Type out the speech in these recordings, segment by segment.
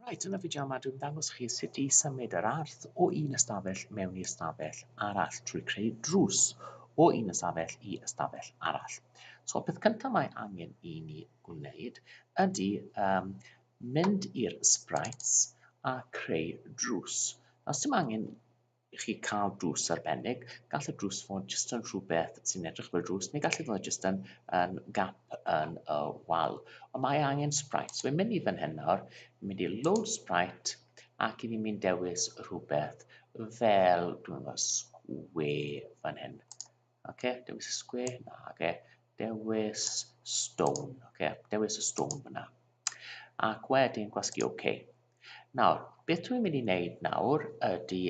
Reit, yn y fideo yma dwi'n dangos chi sut i symud yr arth o un ystafell mewn i ystafell arall trwy creu drws o un ystafell i ystafell arall. So, peth cyntaf mae angen i ni gwneud ydy um, mynd i'r sprites a creu drws. Os dim angen i chi cael drws arbennig. Gall y drws fod jyst yn rhywbeth sy'n edrych fel drws, neu gall e fod jyst yn, yn gap yn y wal. Ond mae angen Sprite. So fi'n mynd i fan hyn nawr, fi'n mynd i load Sprite, ac i fi'n mynd dewis rhywbeth fel, dwi'n meddwl, sgwe fan hyn. Ok, dewis y square, na, ok. Dewis stone, ok. Dewis y stone fyna. Ac wedyn gwasgu ok. Nawr, beth dwi'n mynd i wneud nawr ydy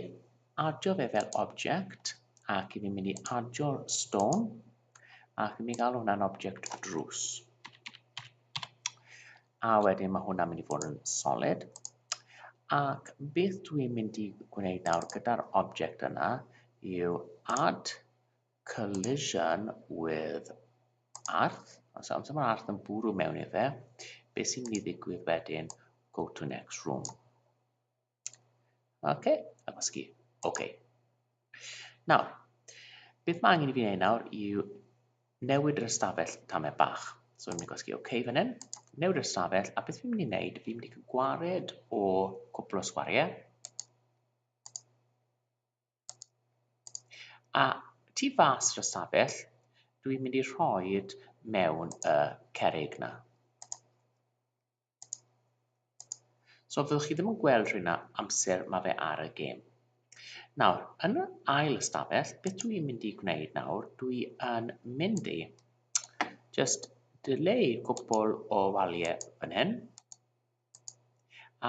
adio fe fel object ac i fi'n mynd i adio'r stone ac i mi gael hwnna'n object drws. A wedyn mae hwnna'n mynd i fod yn solid. Ac beth dwi'n mynd i gwneud nawr gyda'r object yna yw add collision with arth. Os amser mae arth yn bwrw mewn i fe, beth sy'n mynd i ddigwydd wedyn, go to next room. Ok, a gwasgu. Ok. Nawr, beth mae angen i fi wneud nawr yw newid yr ystafell tamau bach. So, fi'n mynd i gwasgu OK fan hyn, newid yr ystafell, a beth fi'n mynd i wneud, fi'n mynd i gwared o cwpl o sgwariau. A tu fas yr ystafell, dwi'n mynd i rhoi mewn y cerig na. So fyddwch chi ddim yn gweld rhywna amser mae fe ar y gêm. Nawr, yn yr ail ystafell, beth dwi i'n mynd i gwneud nawr, dwi yn mynd i just delay cwbl o waliau fan hyn,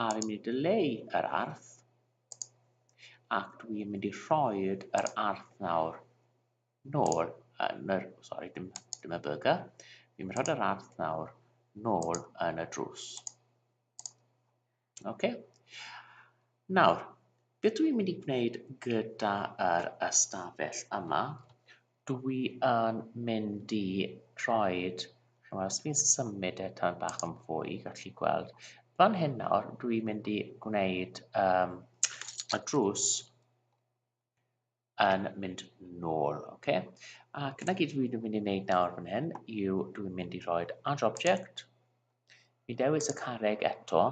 a fi'n mynd i delay yr arth, ac dwi'n mynd i rhoi yr arth nawr nôl yn yr... sori, dim, dim y burger. Fi'n rhod yr arth nawr nôl yn y drws. OK. Nawr, beth dwi'n mynd i gwneud gyda yr ystafell yma? Dwi yn mynd i rhoi... Chymod, os fi'n symud e tan bach yn fwy, gallwch chi gweld. Fan hyn nawr, dwi'n mynd i gwneud um, y drws yn mynd nôl, oce? Okay? Ac yna gyd dwi'n mynd i wneud nawr fan hyn yw dwi'n mynd i roi add object, mi dewis y carreg eto,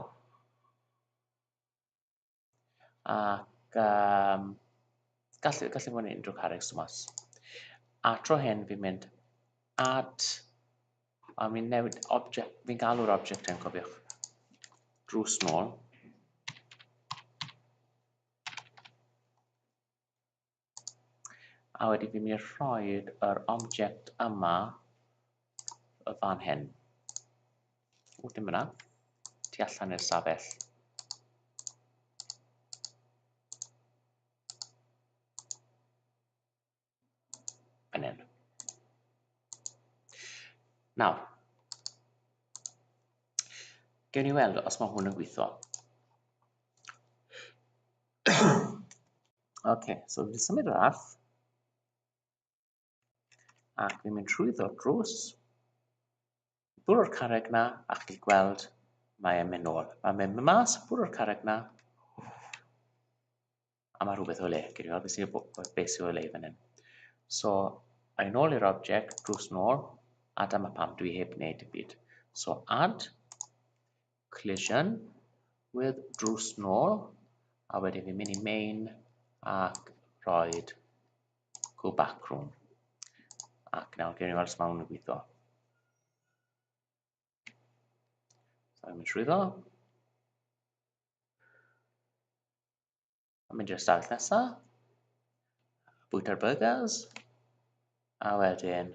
ac um, gallu, gallu fod yn unrhyw carreg symas. A tro hyn fi'n mynd add, a fi'n newid object, fi'n galw'r object yn cofiwch, drws nôl, A wedyn fi'n mynd i rhoi yr object yma y fan hyn. O, dim yna. Ti allan i'r safell. Yn hyn. Nawr, gewn ni weld os mae hwn yn gweithio. okay, so fi'n symud yr arth ac fi'n mynd trwyddo drws bwrw y carreg 'na a chi'n gweld mae e'n mynd nôl. Mae'n mynd mas, bwrw'r carreg 'na a mae rhywbeth o le. Gyd i beth sy'n beth sy'n o le fan hyn. So, a'i nôl i'r object, drws nôl, a dyma pam dwi heb wneud y byd. So, add, collision, with drws nôl, a wedyn fi'n mynd i main ac roed go back room. Ac nawr gen i weld smawn yn gweithio. So I'm trwy ddo. A mynd i'r stafell nesa. Bwyta'r burgers. A wedyn,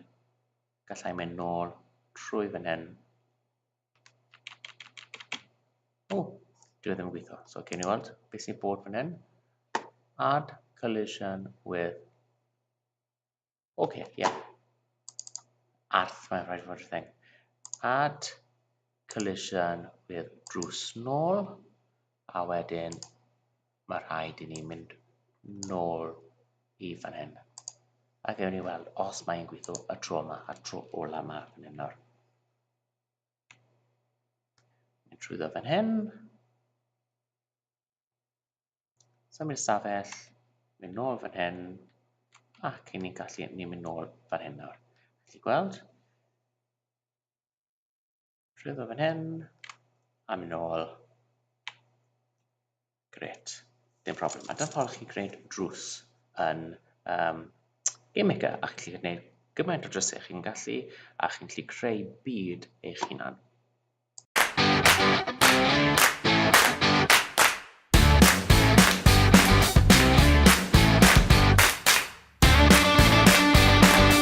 gallai mynd nôl trwy fan hyn O, dwi e ddim yn gweithio. So, gen i weld beth sy'n bod fan hyn. Add collision with... OK, ie. Yeah. Arth, mae'n rhaid fod thing. Add collision with drws nôl. A wedyn, mae rhaid i ni mynd nôl i fan hyn. A gewn ni weld os mae'n gweithio y tro yma a'r tro ola yma fan hyn nawr. Mynd trwy ddo fan hyn. Symud i'r stafell, mynd nôl fan hyn, ac i ni'n gallu ni'n mynd nôl fan hyn nawr. Felly gweld, trwy ddo fan hyn, a mynd nôl. Grêt, dim problem. A dyna ffordd chi gwneud drws yn um, GameMaker, a chi'n gallu gwneud gymaint o drysau chi'n gallu, a chi'n gallu creu byd eich hunan.